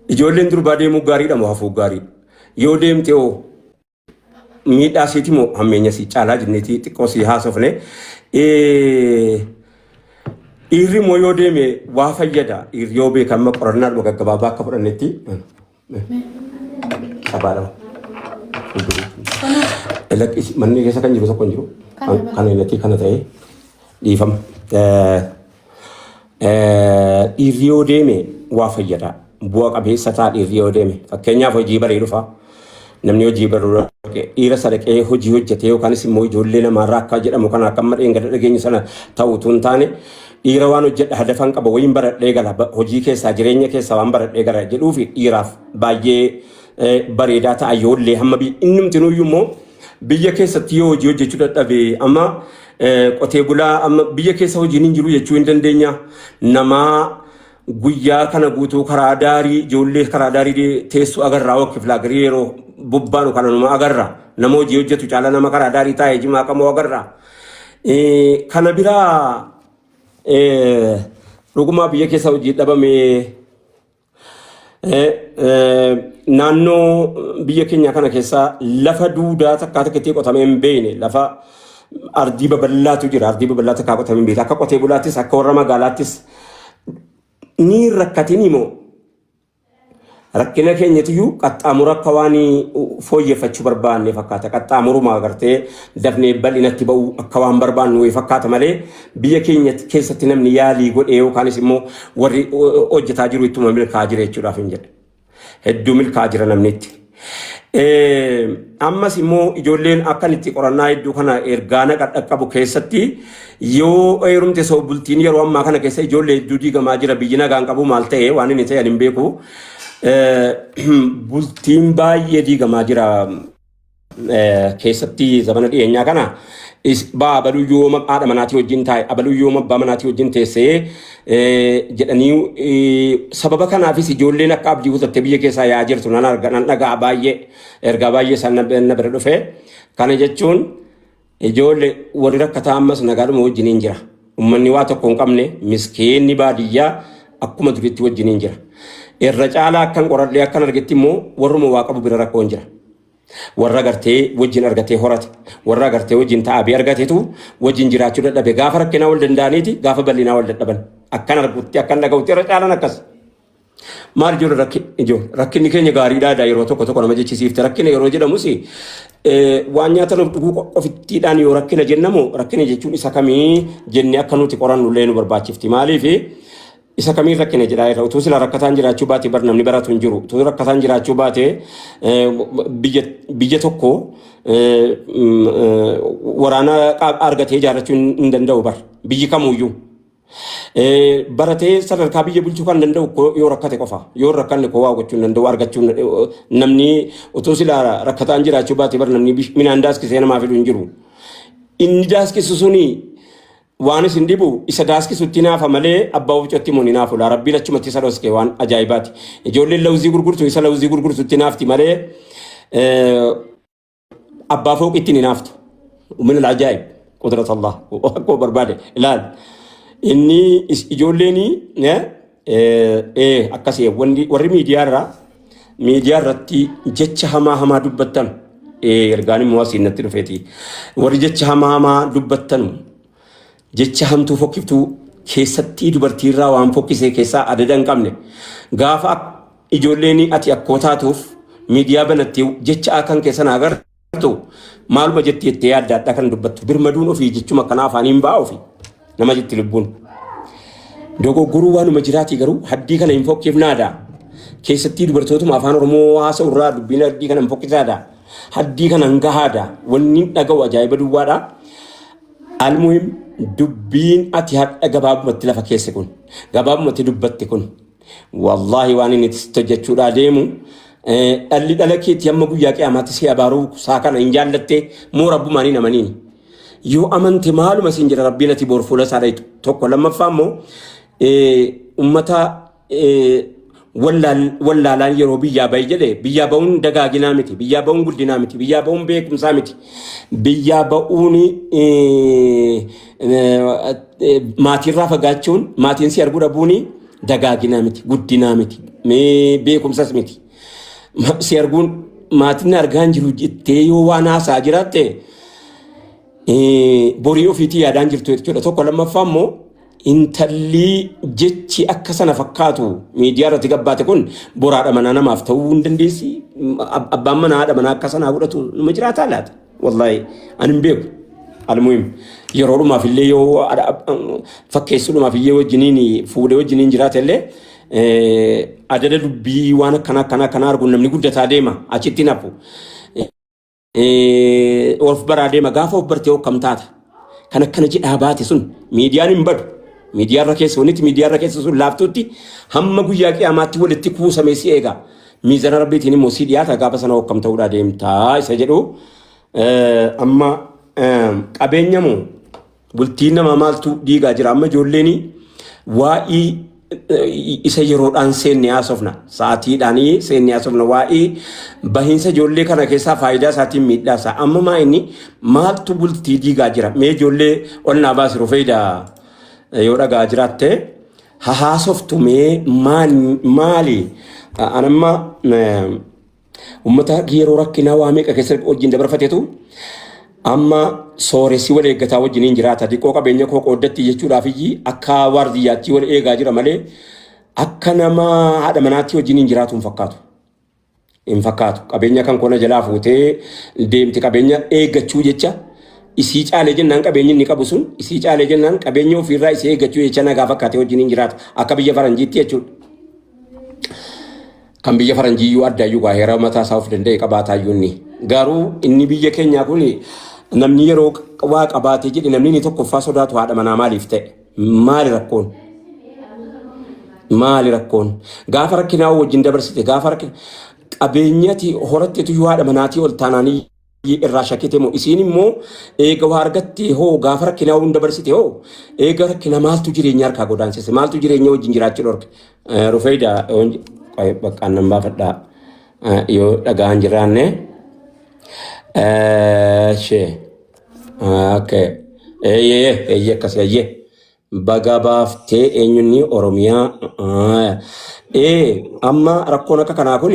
Ijoolleen durbaa deemuu gaariidha moo hafuu gaariidha? Yoo deemte hoo miidhaa siiti moo hammeenya sii caalaa jenneeti xiqqoo sii haasofne. Eh, Dhiirri immoo yoo deeme waa fayyada. Dhiirri yoo beeka amma qorannaa dhuma gaggabaabaa akka fudhannetti. Sabaa lama. Lakkisi manni keessa kan jiru tokko hin jiru. Kana Kana hin natti kana ta'e dhiifama. Eh, Dhiirri yoo deeme waa fayyada. Bu'a qabeessa ta'a dhiirri yoo deeme. Fakkeenyaaf hojii baree dhufa. Namni hojii baruu dhaqe dhiira sadaqee hojii hojjetee yookaanis immoo ijoollee namaarraa akka jedhamu kana akka amma dheengadda dhageenyu sana ta'u utuu hin taane dhiira waan hojjedha hadafan qaba wayiin baradhee gala ba- hojii keessaa jireenya keessaa waan baradhee gara jedhuu fi dhiiraaf baay'ee eh, bareedaa ta'a yoollee hamma bi- innumtinuyyuu immoo biyya keessatti yoo hojii hojjechuu dadhabe amma Eh, qotee bulaa amma biyya keessa hojiin hin jiru jechuu hin dandeenya. Namaa guyyaa kana guutuu karaa daarii ijoollee karaa daarii dee- teessu agarraa wakkiif laagarii yeroo bobbaanu kana numa agarra. Nama hojii hojjetu caala nama karaa daarii taa'ee jimaa qamoo agarra. Eh, Kana biraa eh, dhugumaa biyya keessa hojii dhabamee Eh, eh, naannoo biyya keenya kana keessaa lafa duudaa takkaa takka itti qotamee hin beekne lafa ardii babal'aatu jira ardii babal'aa takkaa qotamee hin beekne akka qotee bulaattis akka warra magaalaattis ni rakkatin immoo rakkina keenyatiyyuu qaxxaamura akka waan fooyyeffachuu barbaanne fakkaata qaxxaamuruma agartee dafnee bal'inatti ba'uu akka waan barbaannu wayii fakkaata malee Biyya keenya keessatti namni yaalii godhee yookaanis immoo warri hojjetaa jiru ittuma milkaa'aa jira jechuudhaaf hin jedhe. Hedduu milkaa'aa jira namni itti. Ammas immoo ijoolleen akkan itti qorannaa hedduu kana ergaa naqa dhaqqabu keessatti yoo heerumte soo bultiin yeroo ammaa kana keessa ijoollee hedduu diigamaa jira biyyi nagaan qabu maal ta'e waan inni ta'e hin beeku. Bultiin baay'ee diigamaa jira. keessatti zamana dhiyeenyaa kana baa abaluu yooma haadha manaatii wajjin taa'e abaluu yooma abbaa manaatii wajjin teessee jedhanii sababa kanaafis ijoolleen akka abdii kutattee biyya keessaa yaa jirtu nan arga nan dhaga'a baay'ee ergaa baay'ee isaan na bira dhufe kana jechuun Ijoolle warri rakkataa ammas nagaadhuma wajjiniin jira. Ummanni waa tokko hin qabne miskiinni baadiyyaa akkuma duriitti wajjiniin jira. Irra caalaa akkan qoradhee akkan argetti immoo warruma waa qabu bira rakkoon jira. Warra gartee wajjin argatee horate, warra agartee wajjin ta'aabee argatetu wajjin jiraachuu dadhabe. Gaafa rakkinaa wal danda'aniiti, gaafa bal'inaa wal dadhaban. Akkan argutti, akkan dhaga'utti irra caalaan akkas. Maal ijoollee rakki- ijoo- rakkinni keenya gaariidhaa dha yeroo tokko tokko nama jechisiifte rakkina yeroo jedhamus eh, waan nyaatan of dhuguu qo- ofittiidhaan yoo rakkina jennamu rakkina jechuun isa kamii jennee akka nuti qorannu illee nu barbaachifti maaliif isa kamiin rakkina jedhaa irra utuu sila rakkataan jiraachuu baate bar namni baratu hin jiru utuu rakkataan jiraachuu baate eh, biyya biyya tokko eh, mm, eh, waraana qaab- argatee ijaarrachuu hin hin danda'u bar biyyi kamuyyuu Eh, baratee sadarkaa biyya bulchuu kan danda'u ko- yoo rakkate qofa yoo hin rakkanne koo waa gochuu hin danda'u argachuu hin- eh, namni utuu silaa rakkataan jiraachuu baate bar namni bish- midhaan daaskisee namaa fidu hin jiru inni daaskisu suni waan isin dhibu isa daaskisutti naafa malee abbaa ofcotti immoo ni naafu laa rabbiin achumatti isa dhoske waan ajaa'ibaati ijoolleen lawuzii gurgurtu isa lawuzii gurgurtutti naafti malee eh, abbaa fooqi ittiin hinaaftu min al'ajaa'ib qudrat allah akkuma barbaade ilaal inni is- ijoolleen eh, eh, akkas eh, wanni- warri miidiyaa irraa miidiyaa irratti jecha hamaa hamaa dubbattan eh, ergaan immoo asiin natti dhufeeti warri jecha hamaa hamaa dubbattan Jecha hamtuu fokkiftuu keessattii dubartii irraa waan fokkisee keessaa adada hin qabne. Gaafa ak ijoolleeni ati akkoo taatuuf miidiyaa banattee jecha akan kee sana agartu maaluma jetti jettee yaadda adda kan dubbattu birmaduun ofii jechuma akkanaa afaaniin ba'aa ofii nama jetti lubbuun. Dogoggoruu waanuma jiraatii garuu haddii kana hin fokkifnaada. Keessattii dubartootuma afaan Oromoo haasa'u irraa dubbiin haddii kana hin fokkisaada. Haddii kana hin gahaada. Wanni dhaga'u ajaa'iba duwwaadha. Almuhim dubbiin ati hadha gabaabumatti lafa keesse kun gabaabumatti dubbatti kun wallaahi waan inni itti hojjechuudhaa deemu dhalli dhala keetti hamma guyyaa qiyamaatti si abaaruu saa kana hin jaallatte moo rabbumaan hin amaniin yoo amante maaluma siin jira rabbiin ati boor fuula isaa dhayitu tokko lammaffaa immoo ummata wallaalaan yeroo biyyaa bahi jedhe biyyaa ba'uun dagaaginaa miti biyyaa ba'uun guddinaa miti biyyaa ba'uun beekumsaa miti biyyaa ba'uun maatiirraa fagaachuun maatiin si arguu dhabuun dagaaginaa miti guddinaa miti beekumsas miti si arguun maatiin argaan jiru jettee yoo waan haasaa jiraatte borii ofiitii yaadaan jirtu jechuudha tokko lammaffaa immoo Intallii jechi akka sana fakkaatu miidiyaa irratti gabbaate kun boraadha manaa namaaf ta'uu hin dandeessi. Ab- Abbaan manaa haadha manaa akka sanaa godhatu nama jiraataa laata? Wallaahi ani hin beeku. Almuhim yeroo dhumaaf illee yoo haadha- ab- fakkeessuu dhumaaf iyyee wajjiniin fuudhee wajjiniin jiraate illee eh, adada dubbii waan akkana akkana akkana arguun namni guddataa deema achittiin hafu. Eh, of baraa deema gaafa of bartee hokkam taata kan akkana jedhaa baate sun miidiyaan hin badu miidiyaarra keessa wanitti miidiyaarra keessa sun laaftuutti hamma guyyaa qiyaamaatti walitti kuusamee si eega miizana rabbiitiin immoo si dhiyaata gaafa sana hokkam ta'uudhaa deemtaa isa jedhu eh, amma eh, qabeenya moo Bultiin namaa maaltu diigaa jira amma ijoolleen waa'ii eh, isa yeroodhaan seenne haasofna sa'aatiidhaan seenne haasofna waa'ee bahiinsa ijoollee kana keessaa faayidaa isaatiin miidhaa isaa amma maa inni maaltu bultii diigaa jira mee ijoollee ol naa baasi rufeeyda eh, yoo dhagaa jiraatte haa haasoftu mee maal- maali Ah, anamma eh, Ummata yeroo rakkinaa waa meeqa keessa wajjin dabarfatetu amma sooressi wal eeggataa wajjin hin jiraata. Diqqoo qabeenya koo qooddatti jechuudhaaf iyyii akka waardiyyaattii wal eegaa jira malee akka nama haadha manaatti wajjin hin jiraatu hin fakkaatu. Hin fakkaatu. Qabeenya kan kona jalaa fuutee deemti qabeenya eeggachuu jecha isii caalee jennaan qabeenyi inni qabu sun isii caalee jennaan qabeenya ofiirraa isii eeggachuu jecha nagaa fakkaatee wajjin hin jiraata. Akka biyya faranjiitti jechuudha. Kan biyya faranjiiyyuu addaayyuu gaa heera mataa isaa of danda'e qabaataayyuu inni. Garuu inni biyya keenyaa kun namni yeroo waa qabaatee jedhe namni inni tokkoffaa sodaatu haadha manaa maaliif ta'e? Maali rakkoon? Maali rakkoon? Gaafa rakkinaa wajjin dabarsite gaafa rakkina qabeenyati horattetu yoo haadha manaatii ol taanaanii irraa shakkite moo isiin immoo eega waa argatte hoo gaafa rakkinaa hunda barsite hoo eega rakkina maaltu jireenya harkaa godaansise maaltu jireenya wajjin jiraachuu dhorke rufeeyda baqqaan nan baafadha yoo dhagaan jiraanne shee okay eeyyee eeyyee akkas eeyyee Bagaa baaftee eenyunnii Oromiyaa. Ee amma rakkoon akka kanaa kun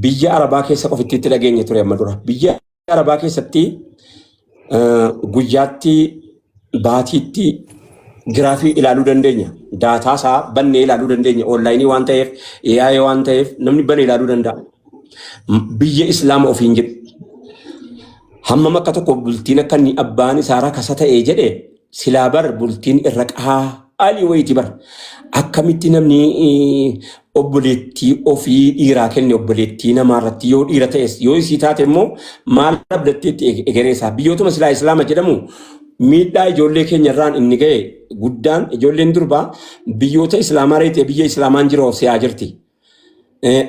biyya Arabaa keessa qofitti itti dhageenye ture amma dura. Biyya Arabaa keessatti guyyaatti baatiitti giraafii ilaaluu dandeenya. Daataa isaa bannee ilaaluu dandeenya. Oonlaayinii waan ta'eef, AI waan ta'eef namni bane ilaaluu danda'a. Biyya Islaama ofiin jedhu. Hammam akka tokko bultiin akka inni abbaan isaa rakasa ta'ee jedhe Silaa bar bultiin irra qahaa ali wayti bar akkamitti namni obboleettii ofii dhiiraa kenne obboleettii namaa irratti yoo dhiira ta'es yoo isii taate immoo maal abdatteetti egeree isaa biyyootuma silaa islaama jedhamu miidhaa ijoollee keenya irraan inni ga'e guddaan ijoolleen durbaa biyyoota islaamaa reetee biyya islaamaan jiroo siyaa jirti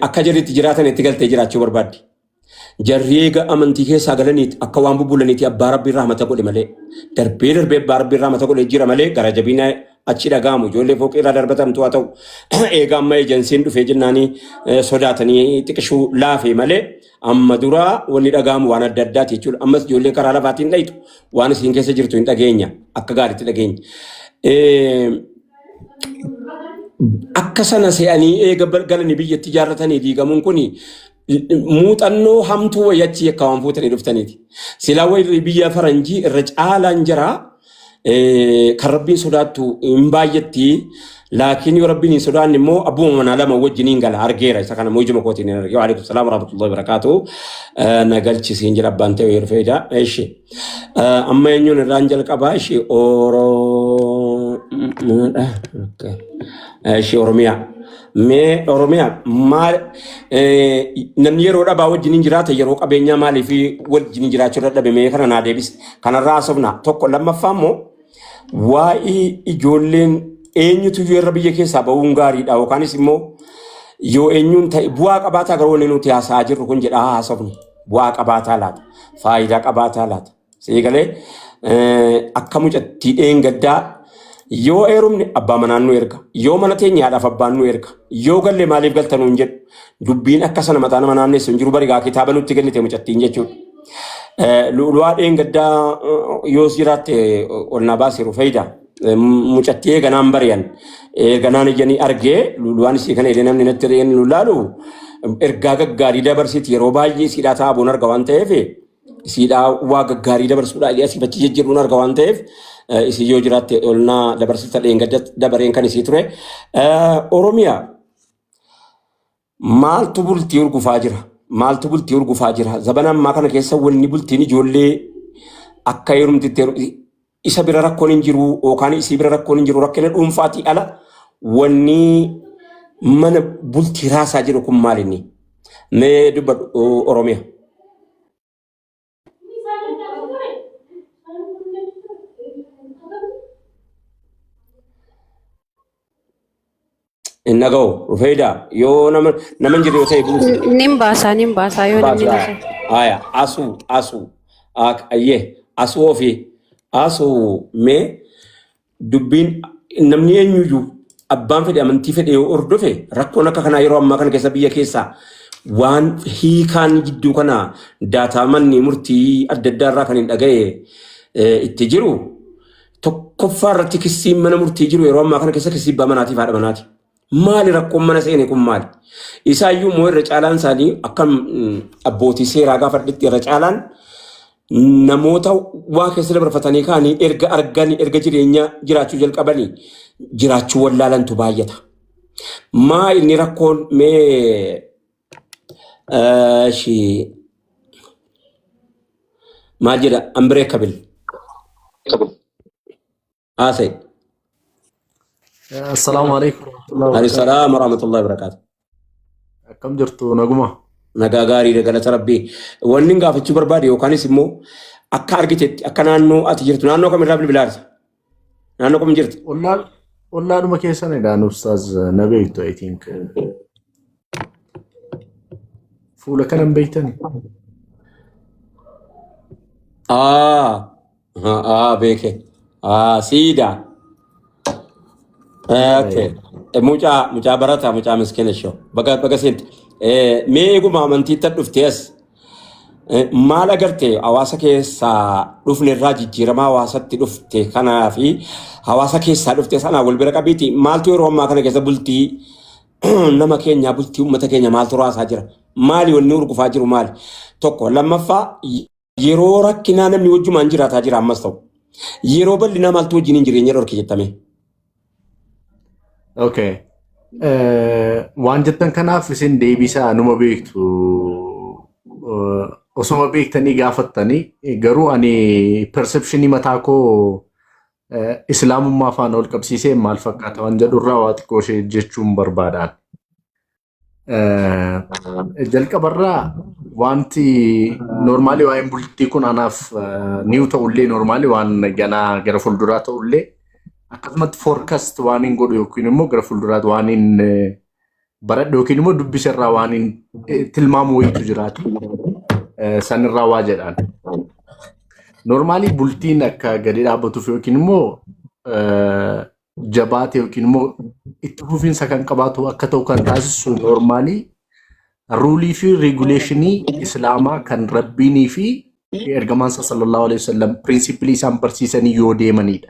akka jirritti jiraatan itti galtee jiraachuu barbaaddi. Jarri eega amantii keessaa galaniit akka waan bubbulaniiti abbaa rabbiin rahmata godhe malee. Darbee darbee abbaa rabbiin rahmata godhe jira malee gara jabina achi dhaga'amu ijoollee fooqii irraa darbatamtu haa ta'u. Eega amma ejansiin dhufee jennaanii eh, sodaatanii xiqishuu laafee malee amma dura wanni dhaga'amu waan adda addaati jechuudha. Ammas ijoollee karaa lafaatiin dhayitu waan isiin keessa jirtu hin dhageenya akka gaariitti dhageenya. Eh, akka sana se'anii eega bal- galanii biyyatti ijaarratanii diigamuun kun muuxannoo hamtuu wayii achi yakka waan fuutanii dhuftaniiti. Silaa warri biyya faranjii irra caalaan jira eh, kan rabbiin sodaattu hin baay'atti laakiin yoo rabbiin hin sodaanne immoo abbuma manaa lama wajjin hin gala argeera isa kana immoo ijuma kootiin hin arge waalaikum salaam warahmatullahi wabarakaatu Eh, na galchisiin jedha abbaan ta'e yeroo fayyada ishi amma eenyuun irraan jalqabaa ishi oromoodha Okay. ishi oromiyaa Mee Oromiyaa maal eh, namni yeroo dhabaa wajjin hin jiraata yeroo qabeenyaa maaliif wajjin hin jiraachuu dadhabe mee kana naa deebisi. Kanarraa haasofna tokko lammaffaa immoo waa'ee ijoolleen eenyutu iyyuu irra biyya keessaa ba'uun gaariidha yookaanis immoo yoo eenyuun ta'e bu'aa qabaataa garuu wanni nuti haasa'aa jirru kun jedhaa haasofnu bu'aa qabaataa laata faayidaa qabaataa laata Sii galee akka mucattii dheengaddaa yoo eerumne abbaa manaan nu erga. Yoo mana teenya haadhaaf abbaan nu erga. Yoo galle maaliif galta nuun jedhu. Dubbiin akka sana mataa nama naannessu hin jiru barigaa kitaaba nutti kennite mucattiin jechuudha. Lu'ulu'aa dheengaddaa yoos jiraatte ol naa baasiru fayyida. Mucattii eeganaan bari'an. Eeganaan ijanii argee lu'ulu'aan isii kana illee namni natti illee nu laalu ergaa gaggaarii dabarsiti yeroo baay'ee siidhaa taa'aa boon arga waan ta'eef isiidhaa waa gaggaarii dabarsuudhaa illee asii fachi jijjiiruun arga waan ta'eef eh, isii yoo jiraatte olnaa dabarsita dheengadda dabareen kan isii ture. Eh, Oromiyaa maaltu bultii urgufaa jira? Maaltu bultii urgufaa jira? Zabana ammaa kana keessa wanni bultiin ijoollee akka heerumtitti heeru- isa bira rakkoon hin jiru yookaan isii bira rakkoon hin jiru rakkina dhuunfaatii ala wanni mana bultii raasaa jiru kun maal inni? Mee dubbadhu o- Oromiya. Hin dhaga'u. Rufeedaa yoo nama nama hin jirre yoo ta'e buusi. Nin baasaa nin baasaa yoo namni Baasaa. na ta'e. Haya asuu asuu. Ak ayyee asuu ofii asuu mee dubbiin namni eenyuyyuu abbaan fedhe amantii fedhe yoo hordofe rakkoon akka kanaa yeroo ammaa kana keessa biyya keessaa waan hiikaan jidduu kana daataa manni murtii adda addaa irraa kan hin dhaga'e eh, itti jiru Tokkoffaa irratti kissiin mana murtii jiru yeroo ammaa kana keessa kissii abbaa manaatiif haadha manaati. Maali rakkoon mana seene kun maali? Isaayyuu immoo irra caalaan isaanii akka mm, abbootii seeraa gaafadhitti irra caalaan namoota waa keessa dabarfatanii kaanii erga arganii erga jireenya jiraachuu jalqabanii jiraachuu wallaalantu baay'ata. Maa inni rakkoon mee Eshi maal jedha unbreakable haasa'e. Assalaamu alaikum warahmatullahi Alayhi wabarakatuh. salaam wa rahmatullahi wa barakaatu. Akkam jirtu naguma? Nagaa gaariidha galata rabbii. Wanni gaafachuu barbaade yookaanis immoo akka argitetti akka naannoo ati jirtu naannoo kamirraa bilbilaa jirta? Naannoo kam jirti? Ollaan ollaadhuma keessan egaa nufsaas na beektu I think fuula kanan beektani. Aa, aa beeke. Aa siidaa. Okay. Eh, Mucaa mucaa barataa mucaa miskina shoo. Baga baga seente. Eh, Mee eeguma amantiitti dhuftee as. Eh, Maal agarte hawaasa keessaa dhufne irraa jijjiiramaa hawaasatti dhufte kanaa fi hawaasa keessaa dhufte sanaa wal bira qabiiti maaltu yeroo ammaa kana keessa bultii nama keenyaa bultii uummata keenya maaltu raasaa jira maali wanni urgufaa jiru maali tokko lammaffaa y- yeroo rakkinaa namni wajjumaan jiraataa jira ammas ta'u yeroo bal'inaa maaltu wajjin hin jireenya dhorke jettame Okay. Eh, Waan jettan kanaaf isin deebisaa numa beektu. Eh, Osuma beektanii gaafattanii eh, garuu ani perceptionii mataa koo eh, islaamummaa faana ol qabsiisee maal fakkaata waan jedhu irraa waa xiqqoo ishee jechuun barbaadaan. Jalqabarraa wanti noormaalii waa'een bultii kun anaaf niiw ta'ullee noormaalii waan ganaa gara fuulduraa ta'ullee akkasumatti foorkast waan hin godhu yookiin immoo gara fuulduraatti waan hin baradhu yookiin immoo dubbiserraa waan hin tilmaamu wayiitu jiraatu sanirraa waa jedhaan. Noormaalii bultiin akka gadi dhaabbatuuf yookiin immoo jabaate yookiin immoo itti fufiinsa kan qabaatu akka ta'u kan taasisu noormaalii ruulii fi reeguleeshinii islaamaa kan rabbiinii fi ergamaan isaa sallallahu alaihi wasallam piriinsippilii isaan barsiisanii yoo deemanidha.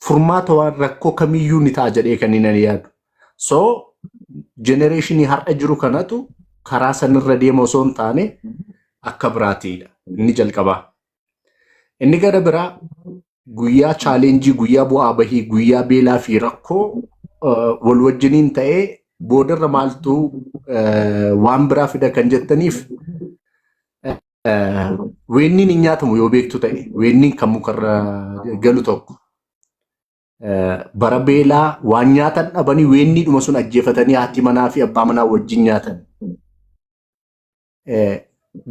Furmaata waan rakkoo kamiyyuu ni ta'a jedhee kan inni yaadu. So jenereeshinii har'a jiru kanatu karaa sanirra deema osoo hin taane akka biraatiidha. Inni jalqabaa. Inni gara biraa guyyaa chaalenjii, guyyaa bu'aa bahii, guyyaa beelaa fi rakkoo eh, wal wajjiniin ta'ee boodarra maaltu eh, waan biraa fida kan jettaniif eh, weenniin hin nyaatamu yoo beektu ta'e weenniin kan mukarra galu tokko eh, bara beelaa waan nyaatan dhabanii weenniidhuma sun ajjeefatanii haati manaa fi abbaa manaa wajjin nyaatan. eh,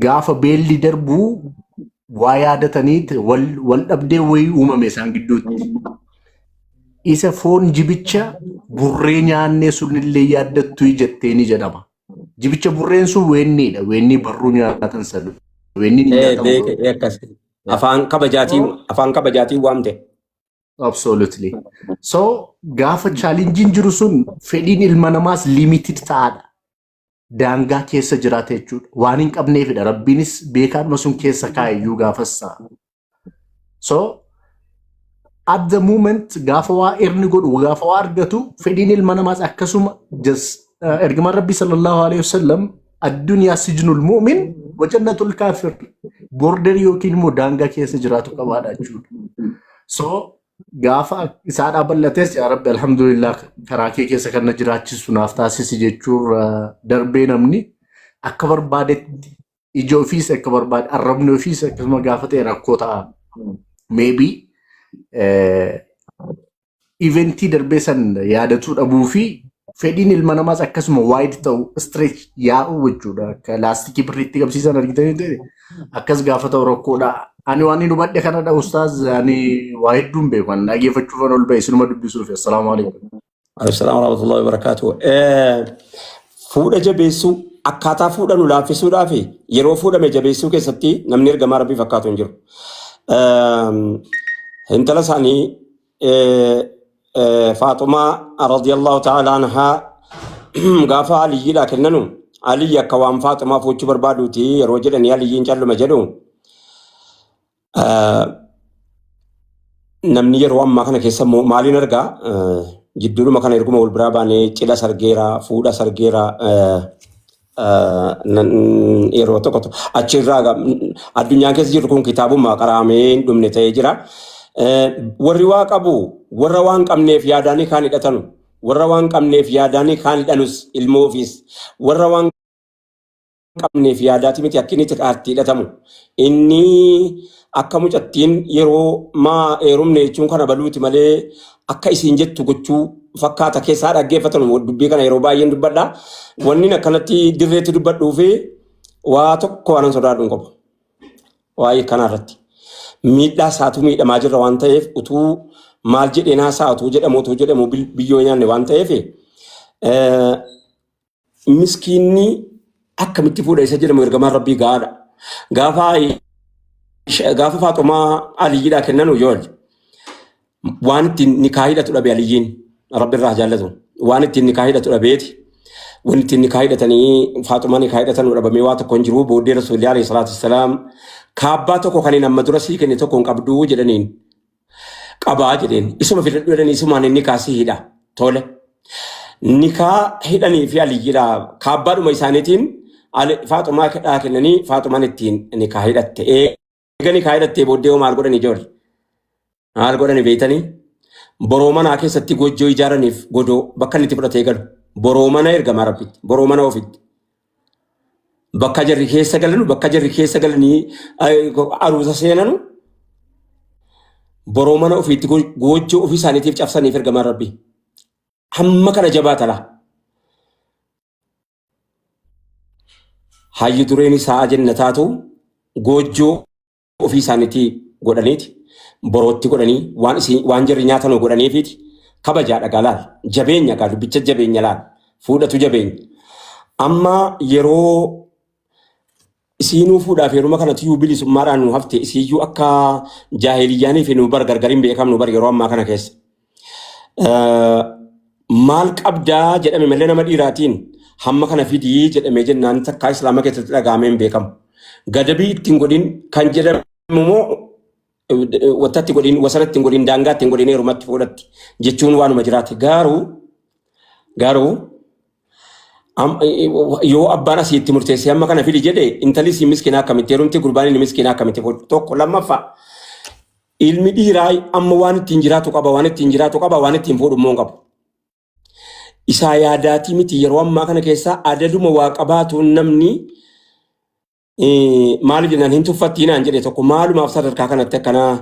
gaafa beelli darbu waa yaadatanii wal, wal dhabdee wayii uumame isaan gidduutti. Isa foon jibicha burree nyaannee sunillee yaaddattu jettee ni jedhama. Jibicha burreen sun weenniidha. Weennii barruu nyaatan sana. Weenniin hin ee nyaatamu. beeke ee akkas Yeah. afaan kabajaatiin So, afaan kabajaatiin waamte absolutely. So, gaafa challenge jiru sun fedhiin ilma namaas limited ta'aadha. daangaa keessa jiraata jechuudha. Waan hin qabneefidha. Rabbiinis beekaadhuma sun keessa kaa'e iyyuu gaafassa. So, at the moment gaafa waa erni godhu gaafa waa argatu fedhiin ilma namaas akkasuma just uh, ergamaan rabbii sallallahu alaihi wasallam addunyaa sijnul mu'min wajannatul kaafir border yookiin immoo daangaa keessa jiraatu qabaadha jechuudha. So Gaafa isaadhaa bal'ates yaa rabbi alhamdulillah karaa kee keessa kan na jiraachisu naaf taasisi jechuurra darbee namni akka barbaadetti ija ofiis akka barbaade arrabni ofiis akkasuma gaafa ta'e rakkoo ta'a. Maybe eventii darbee san yaadatuu dhabuu fi fedhiin ilma namaas akkasuma wide ta'u stretch yaa'u jechuudha. Akka laastikii birriitti qabsiisan argitanii ta'e akkas gaafata rakkoodha. Ani waan hin hubadhe kanadha ustaaz ani waa hedduun beeku ani dhageeffachuufan ol ba'e isinuma dubbisuuf assalaamu alaikum. Assalamu warahmatullahi wabarakatuh. Fuudha jabeessuu akkaataa fuudha nu laaffisuudhaa fi yeroo fuudhame jabeessuu keessatti namni ergamaa rabbii fakkaatu hin jiru. Intala isaanii Faaxumaa radiyallahu ta'ala anhaa gaafa Aliyyiidhaa kennanu Aliyyi akka waan Faaxumaa fuuchuu barbaaduuti yeroo jedhanii Aliyyiin calluma jedhu namni yeroo ammaa kana keessa immoo maaliin argaa jidduudhuma kana erguma wal biraa baanee cidha sargeera fuudha sargeera yeroo tokko tokko achirraa ga- addunyaa keessa jirru kun kitaabuma qaraamee hin dhumne ta'ee jira. Eh, Warri waa qabu warra waan qabneef yaadaanii kaan hidhatanu warra waan qabneef yaadaanii kaan hidhanus ilmoo ofiis warra waan qabneef yaadaati miti akka inni xiqqaatti hidhatamu inni Akka mucattiin yeroo maa eerumne jechuun kana baluuti malee akka isiin jettu gochuu fakkaata keessaa dhaggeeffatan dubbii kana yeroo baay'een dubbadha. Wanni akkanatti dirreetti dubbadhuu fi waa tokko waan sodaadhu hin qabu. Waa'ee kanaa irratti miidhaa isaatu miidhamaa jirra waan ta'eef utuu maal jedheen haasa'atu jedhamu utuu jedhamu biyyoo nyaanne waan ta'eef miskiinni akkamitti fuudha isa jedhamu ergamaan rabbii ga'aadha. Gaafa Aisha- gaafa faaxumaa aliyyiidhaa kennan ujool waan ittiin nikaa hidhatu dhabe aliyyiin rabbi irraa jaallatu waan ittiin nikaa hidhatu dhabeeti. Waan ittiin nikaa hidhatanii faaxumaa nikaa hidhatan dhabamee waa tokko hin jiru booddee rasuulli alayhi salaatu wassalaam kaabbaa tokko kan hin amma dura sii kenne tokko hin qabdu jedhaniin qabaa jedheen isuma filadhu jedhanii isumaan inni kaasii hidha tole nikaa hidhanii fi aliyyidha kaabbaadhuma isaaniitiin ali- faaxumaa kedhaa kennanii faaxumaan ittiin nikaa hidhatte eega nikaa hidhattee booddee hoo maal godhan ijoolli maal godhani beektanii boroo manaa keessatti gojjoo ijaaraniif godoo bakka inni itti fudhatee galu boroo mana ergamaa rabbitti boroo mana ofitti bakka jarri keessa galanu bakka jarri keessa galanii aruusa seenanu boroo mana ofiitti goojjoo ofii isaaniitiif cabsaniif ergamaan rabbi hamma kana jabaatala hayyu dureen isaa jenna taatu goojjoo ofii isaaniitti godhaniiti borootti godhanii waan isin waan jirri nyaatan godhaniifiiti kabajaa dhagaa laal jabeenya gaa dubbicha jabeenya laal fuudhatu jabeenya amma yeroo isiinuu fuudhaaf yeruma kanatti iyyuu bilisummaadhaan nu hafte isiiyyuu akka jaahiliyyaanii fi nu bar gargar hin beekamnu bar yeroo ammaa kana keessa. Eh, maal qabdaa jedhame malee nama dhiiraatiin hamma kana fidii jedhamee jennaan takkaa islaama keessatti dhagahamee hin beekamu. Gadabii ittiin godhin kan jedhamu immoo eh, wanta itti godhin wasana ittiin godhin daangaa ittiin godhin heerumatti fuudhatti jechuun waanuma jiraate garuu garuu am- eh, eh, yoo abbaan asii itti murteessee hamma kana fidi jedhe intalli si miskinaa akkamitti heerumti gurbaan inni miskinaa akkamitti fuudhu tokko lammaffaa Ilmi dhiiraa amma waan ittiin jiraatu qaba, waan ittiin jiraatu qaba, waan ittiin fuudhu immoo hin qabu. Isaa yaadaatii miti yeroo ammaa kana keessaa adaduma waa qabaatuun namni maal jennaan hin tuffattii naan jedhe tokko maalumaaf sadarkaa kanatti akkanaa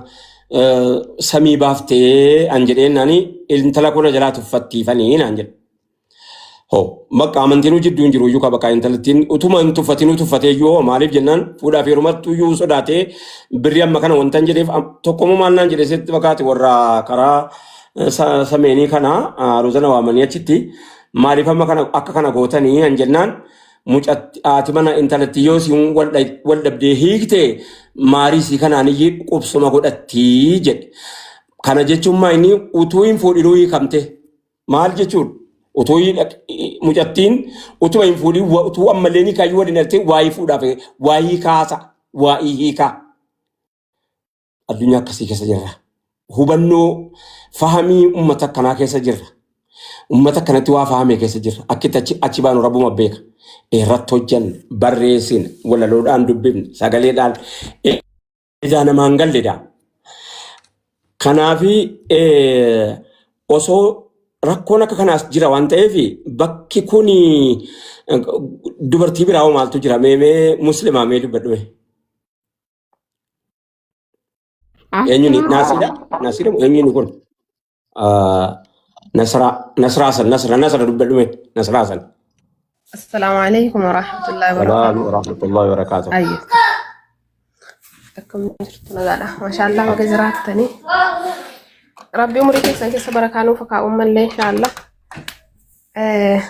samii baaftee an jedheen naani intala kuna jalaa tuffattiifanii naan jedhe. Ho, bakka amantiinuu jidduu hin jiru iyyuu ka bakka intalattiin utuma hin tuffatinuu tuffatee iyyuu hoo maaliif jennaan fuudhaa fi heerumattuu iyyuu sodaatee birrii amma kana wantan jedheef am- tokkommoo maal naan jedhe sitti fakkaate warra karaa eh, sa- sameenii kana ah, rozana waamanii achitti maaliif amma kana akka kana gootanii an jennaan mucatti haati mana intalattii yoo siin wal dha- wal dhabdee hiikte maarii sii kanaan iyyuu qubsuma godhattii jedhe. Kana jechuun maa inni utuu hin fuudhinuu hiikamte. Maal jechuudha? Utuu hin- mucattiin utuma hin fuudhin wa- utuu ammallee ni kaayyuu waliin artee waa'ee fuudhaaf waa'ee kaasa waa'ee hiikaa addunyaa akkasii keessa jirra. Hubannoo fahamii uummata akkanaa keessa jirra. Uummata akkanatti waa fahamee keessa jirra. Akkitti achi, achi baanu rabbuma beeka. Irratti hojjanna, barreessina, walaloodhaan dubbifna, sagaleedhaan ijaa namaa hin galledha. Kanaafi eh, osoo rakkoon akka kanaas jira waan ta'eef bakki kun dubartii biraa hoo maaltu jira mee mee muslimaa mee dubbadhu mee. Eenyuun naasiidha? Naasiidha moo eenyuun kun? Ah, Nasraa Nasraa san Nasra Nasra dubbadhu mee Nasraa san. Assalaamu alaikum warahmatullahi Salaam wabarakatuh. warahmatullahi wabarakatuh. Ayyo. Akkam jirtu nagaadha. Mashaallah baga jiraattanii. Rabbi umurii keessan keessa barakaa nuuf haa kaa'u mallee inshaallah. Eh,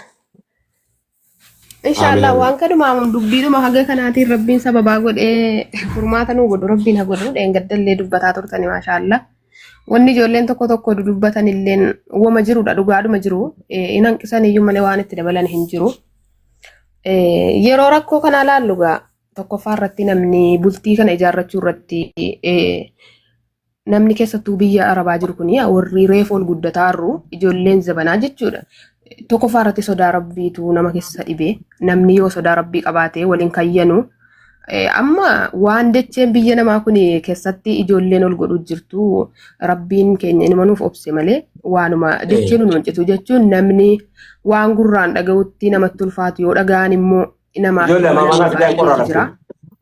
Inshallah Amin, waan kadhuma dubbiidhuma haga kanaatiin rabbiin sababaa godhee furmaata nuu godhu rabbiin ha godhu dheengaddallee dubbataa turtani maashaallah. Wanni ijoolleen tokko tokko dudubbatan illeen wama jirudha dhugaadhuma jiru Eh, hin hanqisan iyyuu malee waan itti dabalan hin jiru. Eh, Yeroo rakkoo kana ilaallu gaa tokkoffaa irratti namni bultii kana ijaarrachuu irratti eh, namni keessattuu biyya arabaa jiru kun warri reefu ol guddataa arru ijoolleen zabanaa jechuudha. Tokkoffaa irratti sodaa rabbiitu nama keessa dhibe namni yoo sodaa rabbii qabaate waliin kayyanu amma waan dacheen biyya namaa kun keessatti ijoolleen ol godhu jirtu rabbiin keenya inuma nuuf obse malee waanuma dacheen nu hojjetu jechuun namni waan gurraan dhaga'utti namatti ulfaatu yoo dhaga'an immoo namaaf Ijoollee amma mana fidaan qorra jira.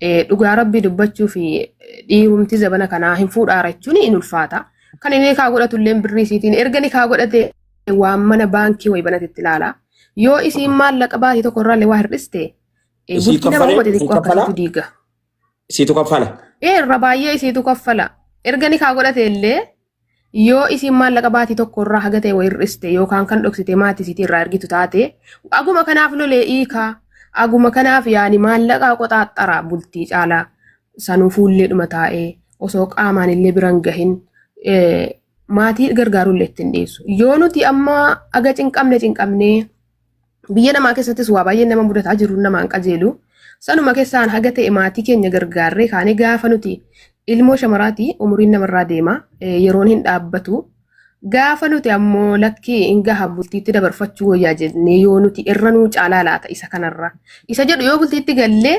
Eh, Dhugaa rabbii dubbachuu fi dhiirumti zabana kanaa hin fuudhaara jechuun hin ulfaata. Kan inni kaa godhatu illee birrii isiitiin erga ni kaa godhate waan mana baankii wayi banate itti ilaala. Yoo isiin maallaqa baatii tokko irraa illee waa hir'iste eh, Isii bultii nama kaffalee? hubate Isii xiqqoo kaffalaa? akkasitti diiga. Isiitu kaffala. Ee irra baay'ee isiitu kaffala. Erga ni kaa godhate illee Yoo isiin maallaqa baatii tokko irraa haga ta'e wa hir'iste yookaan kan dhoksite maatii isiitii irraa ergitu taate aguma kanaaf lolee iikaa aguma kanaaf yaani maallaqaa qoxaaxxaraa bultii caalaa sanuu fuullee dhuma taa'ee osoo qaamaan illee biran gahin eh, maatii gargaaruu illee ittiin dhiisu. Yoo nuti amma aga cinqamne cinqamnee Biyya namaa keessattis waa baay'een nama mudataa jiruun nama hin qajeelu. Sanuma keessaan haga ta'e maatii keenya gargaarree kaanee gaafa nuti ilmoo shamaraati umuriin namarraa deema yeroon hin dhaabbatu. Gaafa nuti ammoo lakkii hin gaha bultiitti dabarfachuu wayyaa jennee yoo nuti irra nuu caalaa laata isa kanarra. Isa jedhu yoo bultiitti gallee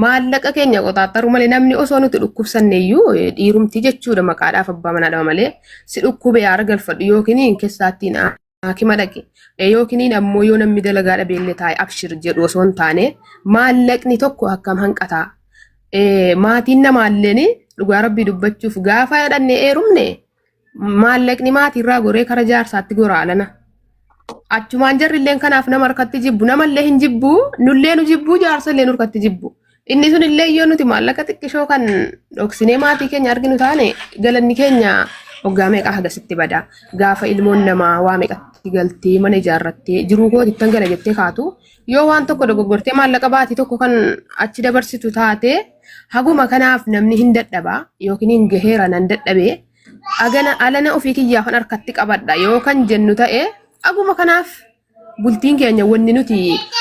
maallaqa keenya qoxaaxaru malee namni osoo nuti dhukkubsanneeyyuu dhiirumti jechuudha maqaadhaaf abbaa manaadhama malee si dhukkube yaara galfadhu yookiin keessaattiin Haakima dhaqi. Yookiin ammoo yoo namni dalagaa dhabeellee taa'e abshir jedhu osoo hin taane maallaqni tokko akkam hanqataa. Maatiin namaalleen dhugaa rabbii dubbachuuf gaafa dhannee eerumne maallaqni maatiirraa goree kara jaarsaatti goraalana. Achumaan jarrilleen kanaaf nama harkatti jibbu namallee hin jibbu nullee nu jibbu jaarsallee nu harkatti jibbu. Inni sun illee yoo nuti maallaqa xiqqishoo kan dhoksinee maatii keenya arginu taane galanni keenya waggaa meeqa hagasitti bada. Gaafa ilmoon namaa waa meeqatti galtee mana ijaarrattee jiruu kooti ittan gala jettee kaatu yoo waan tokko dogoggortee maallaqa baatii tokko kan achi dabarsitu taate haguma kanaaf namni hin dadhaba yookiin hin gaheera nan dadhabee agana alana ofii kiyyaafan harkatti qabadha yoo kan jennu ta'e haguma kanaaf bultiin keenya wanni nuti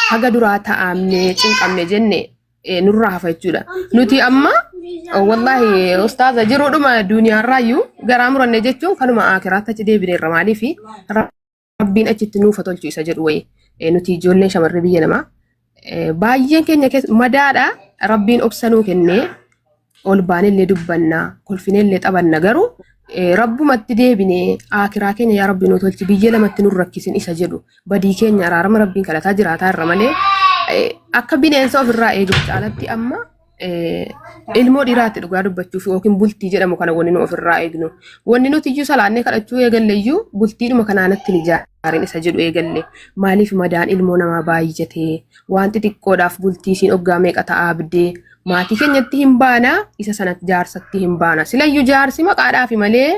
haga duraa ta'amne cinqamne jenne eh, nurraa hafa jechuudha. Nuti amma eh, wallahi ustaaza jiruudhuma duniyaarraayyuu garaa muranne jechuun kanuma akiraatti achi deebineerra maaliif rabbiin achitti nuufa tolchu isa jedhu wayii Eh, nuti ijoolleen shamarree biyya namaa Eh, Baay'een keenya keessa madaadha rabbiin obsa nuu kennee ol baanellee dubbanna kolfinellee taphanna garuu eh, rabbumatti deebinee aakiraa keenya yaa rabbi nu tolchi biyya lamatti nu rakkisin isa jedhu badii keenya araarama rabbiin kadhataa jiraataa irra malee eh, akka bineensa ofirraa eeguuf caalatti amma ilmoo dhiiraatti dhugaa dubbachuuf yookiin bultii jedhamu kana wanni nu ofirraa eegnu. Wanni nuti iyyuu salaannee kadhachuu eegalle iyyuu bultiidhuma kanaanatti ni jaarin isa jedhu eegalle. Maaliif madaan ilmoo namaa baay'atee waan xixiqqoodhaaf bultii isiin oggaa meeqa ta'a abdee maatii keenyatti hin baana isa sanatti jaarsatti hin baana. Silayyuu jaarsi maqaadhaafi malee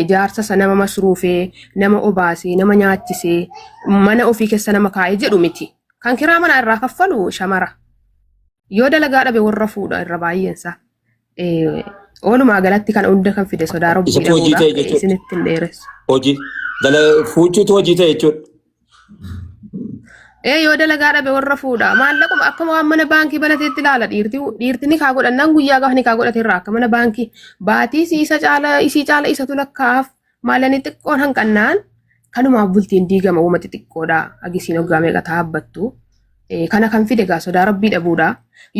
jaarsa sana nama masruufee, nama obaasee, nama nyaachisee, mana ofii keessa nama kaa'ee jedhu miti. Kan kiraa manaa irraa kaffalu shamara. Yoo dalagaa dhabe warra fuudha irra baay'eensa. Oolumaa galatti kana hunda kan fide sodaa rabbii Isatu hojii ta'e dhabuudha. jechuudha. Isinitti hin dheeressu. Hojii dala fuuchuutu hojii ta'e jechuudha. Ee yoo dalagaa dhabe warra fuudha. Maallaquma akkuma waan mana baankii banateetti ilaala dhiirti. Dhiirti ni kaa godhannaan guyyaa gaafa ni kaa godhate irraa akka mana baankii baatii isii isa caala isii caala isatu lakkaa'aaf. Maalani xiqqoon hanqannaan kanumaaf bultiin diigama uuma xixiqqoodha agisiin hoggaa meeqa taabbattu kana kan fide gaa sodaa rabbii dhabuudha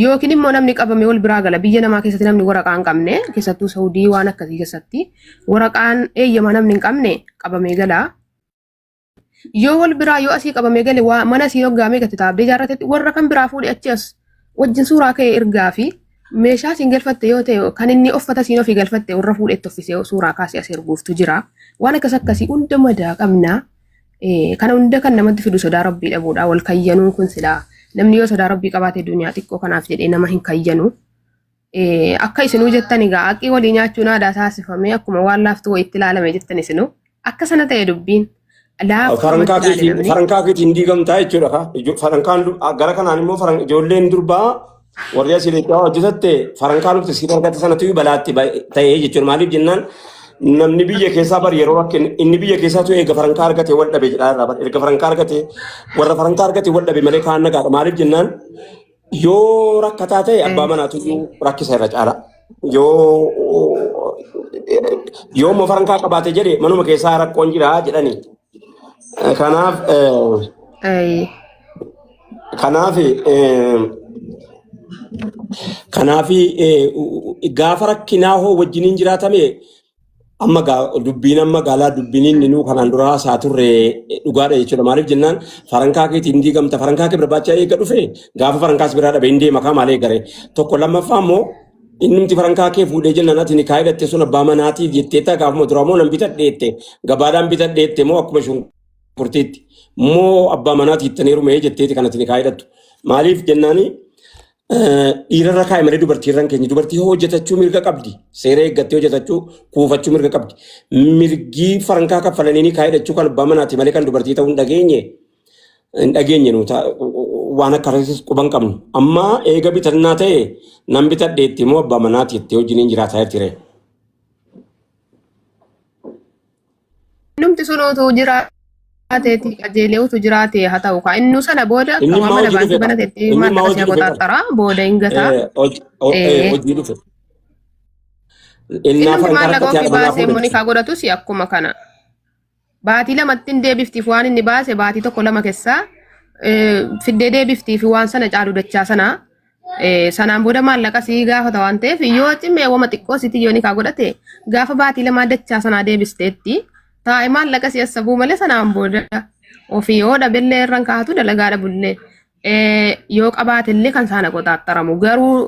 yookiin immoo namni qabame wal biraa gala biyya namaa keessatti namni waraqaa hin qabne keessattuu saudii waan akkasii keessatti waraqaan eeyyama namni hin qabne qabamee gala Yoo wal biraa yoo asii qabame gale waa mana sii hoggaamee gati taabdee jaarratetti warra kan biraa fuudhe achi as wajjin suuraa ka'e ergaa fi meeshaa siin galfatte yoo ta'e kan inni uffata siin ofii galfatte warra fuudhetti uffisee suuraa kaasee as erguuftu jira. Waan akkas akkasii hunda madaa qabna. Eh, Kana hunda kan namatti fidu sodaa rabbii dhabuudha. Wal kayyanuun kun silaa namni yoo sodaa rabbii qabaate duniyaa xiqqoo kanaaf jedhee nama hin kayyanu. Akka isinuu jettan egaa aqii walii nyaachuun aadaa taasifamee akkuma waan laaftuu wayiitti ilaalame jettan isinuu akka sana ta'e dubbiin Farankaa keetiin farankaa keetiin diigamtaa jechuudha ka. Ijo- Farankaan du- a- gara kanaan immoo faran ijoolleen durbaa warri asii leencaa hojjetatte farankaa dhufte siif argatte sanatu balaatti ba- ta'ee jechuudha. Maaliif jennaan namni biyya keessaa bar yeroo akka inni inni biyya keessaa tu erga farankaa argate wal dhabe jedhaa irraa bar erga farankaa argate warra farankaa argate wal dhabe malee kaan nagaadha. Maaliif jennaan Yoo rakkataa ta'e abbaa Mm. manaatu iyyuu rakkisa irra caala. Yoo yoo immoo farankaa qabaate jedhe manuma keessaa rakkoon jira jedhani. Kanaaf eh, Ayi. kanaaf eh, kanaaf eh, gaafa rakkinaa hoo wajjiniin jiraatame amma gaa- dubbiin amma gaalaa dubbiin inni nuu kanaan dura haasaa turre eh, dhugaadha jechuudha. Maaliif jennaan farankaa keetiin hin diigamta farankaa kee barbaacha eega dhufe gaafa farankaas biraa dhabe hin deema kaa maalee gare tokko lammaffaa immoo innumti farankaa kee fuudhee jennaan ati ni kaayidhatte sun abbaa manaatiif jettee taa gaafuma duraa moo nan bitadheette gabaadhaan bitadheette moo akkuma shunkurtiitti moo abbaa manaatiif tanii rumee jetteeti kanatti ni kaayidhattu. Maaliif jennaanii Dhiirarra kaa'e malee dubartiirra hin keenye. Dubartii hojjetachuu mirga qabdi. Seera eeggattee hojjetachuu kuufachuu mirga qabdi. Mirgii farankaa kaffalanii kaa'ee dhachuu kan abbaa manaati malee kan dubartii ta'uu hin dhageenye. Hin dhageenye nuuta waan akka reessis quban qabnu. Amma eega bitannaa ta'e nan bitadheetti immoo abbaa manaati jettee wajjin hin jiraataa jirti ree. Innumti sun utuu jiraateeti qajeelee utuu jiraatee haa ta'u kaa innuu sana booda Inni waan immoo mana hojii baankii dhufedha. banatetti Inni immoo maallaqa hojii si'a dhufedha. qoxaaxaraa booda hin gataa. Eh, hoj- o- eh, Eh, hojii dhufe. Innaafa Innumti hanqara maallaqa akkatti ofii haadha manaa baasee immoo fuudhe. nikaa godhatus akkuma kana. Baatii lamatti hin deebiftiif waan inni baase baatii tokko lama keessaa eh, fiddee deebiftiif waan sana caalu dachaa sana Eh, sanaan booda maallaqa sii gaafata waan ta'eef yoo cimee wama xiqqoo sitii yoo nikaa godhate gaafa baatii lamaa dachaa sanaa deebisteetti taa'e maallaqa si assabuu malee sanaan booda ofii yoo dhabellee irraan kaa'atu dalagaa dhabullee eh, yoo qabaatellee kan saana qotaattaramu garuu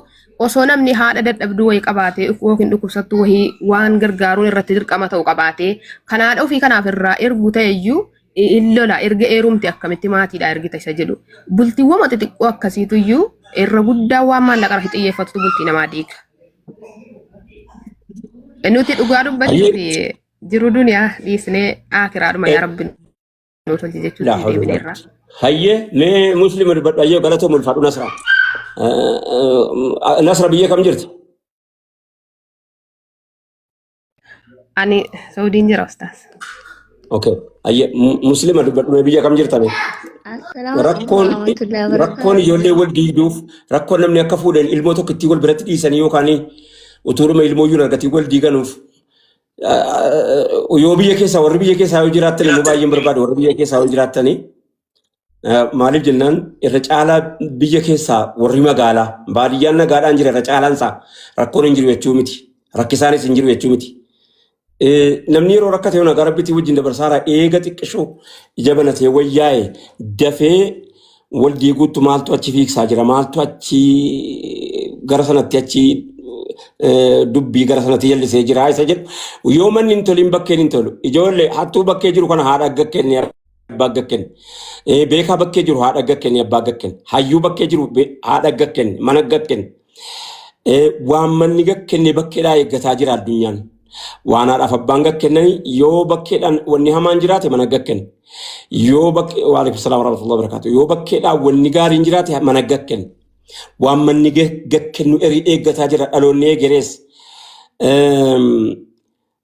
osoo namni haadha dadhabduu wayii qabaate yookiin dhukkubsattuu wayii waan gargaaruun irratti dirqama ta'u qabaate kan haadha ofii kanaaf irraa ergu ta'eyyuu hin lola erga eerumti akkamitti maatiidha ergita isa jedhu bultiiwwan xixiqqoo akkasiitu iyyuu irra guddaa waan maallaqa irratti xiyyeeffatutu bultii namaa diiga. Nuti dhugaa dubbachuuf jiru duniyaa dhiisnee akiraadhuma yaa rabbi nu tolchi jechuutti Laa hawla deebine wala irraa. quwwata. Hayyee mee musliima dubbadhu hayyee galatoo mulfaadhu nasra. Nasra biyya kam jirti? Ani Saudiin jira ustaas. Okay. Ayya muslima dubbadhume biyya kam jirtame? Assalaamu Rakkoon warahmatullahi rakkoon ijoollee wal diigduuf rakkoon namni akka fuudhan ilmoo tokko ittiin wal biratti dhiisanii yookaan utuuruma ilmoo iyyuu argatiin wal diiganuuf yoo biyya keessaa warri biyya keessaa yoo jiraattan immoo baay'een barbaada warri biyya keessaa yoo jiraattanii Maaliif jennaan irra caalaa biyya keessaa warri magaalaa baadiyyaan nagaadhaan jira irra caalaan isaa rakkoon hin jiru jechuu miti. Rakkisaanis hin jiru jechuu miti. Namni yeroo rakkate yoona gara bitii wajjin dabarsaara eega xiqqishu ija banatee wayyaa'e dafee wal diiguutti maaltu achi fiigsaa jira maaltu achi gara sanatti achi dubbii gara sanatti jallisee jira isa jedhu yoo manni hin toliin bakkeen hin tolu ijoollee hattuu bakkee jiru kana haadha akka kennee abbaa gakken beekaa bakkee jiru haadha gakken abbaa gakken hayyuu bakkee jiru be- haadha gakken mana gakken waan manni gakkenne bakkeedhaa eeggataa jira addunyaan waan haadhaaf abbaan gakkennani yoo bakkeedhaan wanni hamaan jiraate mana gakken yoo bakkee waalaikum salaam warahmatullahi wabarakatuh yoo bakkeedhaan wanni gaariin jiraate mana gakken waan manni ga- gakkennu erii eeggataa jira dhaloonni eegerees Eem,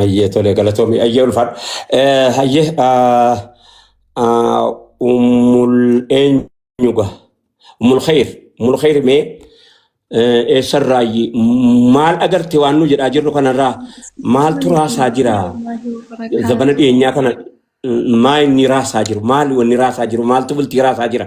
Hayyee tolee galatoomi hayyee ulfaadha. Eh, Hayyee ah, ah, ummul eenyuga ummul khayr ummul khayr mee eh, eessarraayyi maal agarte waan nu jedhaa jirru kanarraa maaltu raasaa jira zabana dhiyeenyaa kana mm, maa inni raasaa jiru maal wanni raasaa jiru maaltu bultii raasaa jira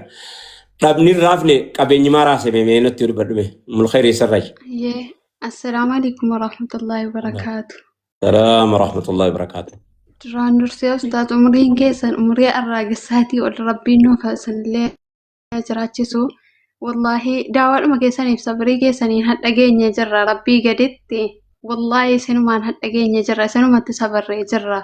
dhabni hin raafne qabeenyi maa raase mee mee natti dubbadhu mee ummul khayr eessarraayyi. Yee, Assalaamu alaikum warahmatullahi wabarakaatu. Salaam rahmatullahi wabarakaatu. Duraan dursee ustaaz umriin keessan umrii arraagessaatii ol rabbiin nuuf hasanillee jiraachisu. Wallaahi daawaadhuma keessaniif sabrii keessaniin hadha geenye jirra rabbii gaditti. Wallaahi isinumaan hadha geenye jirra isinumatti sabarree jirra.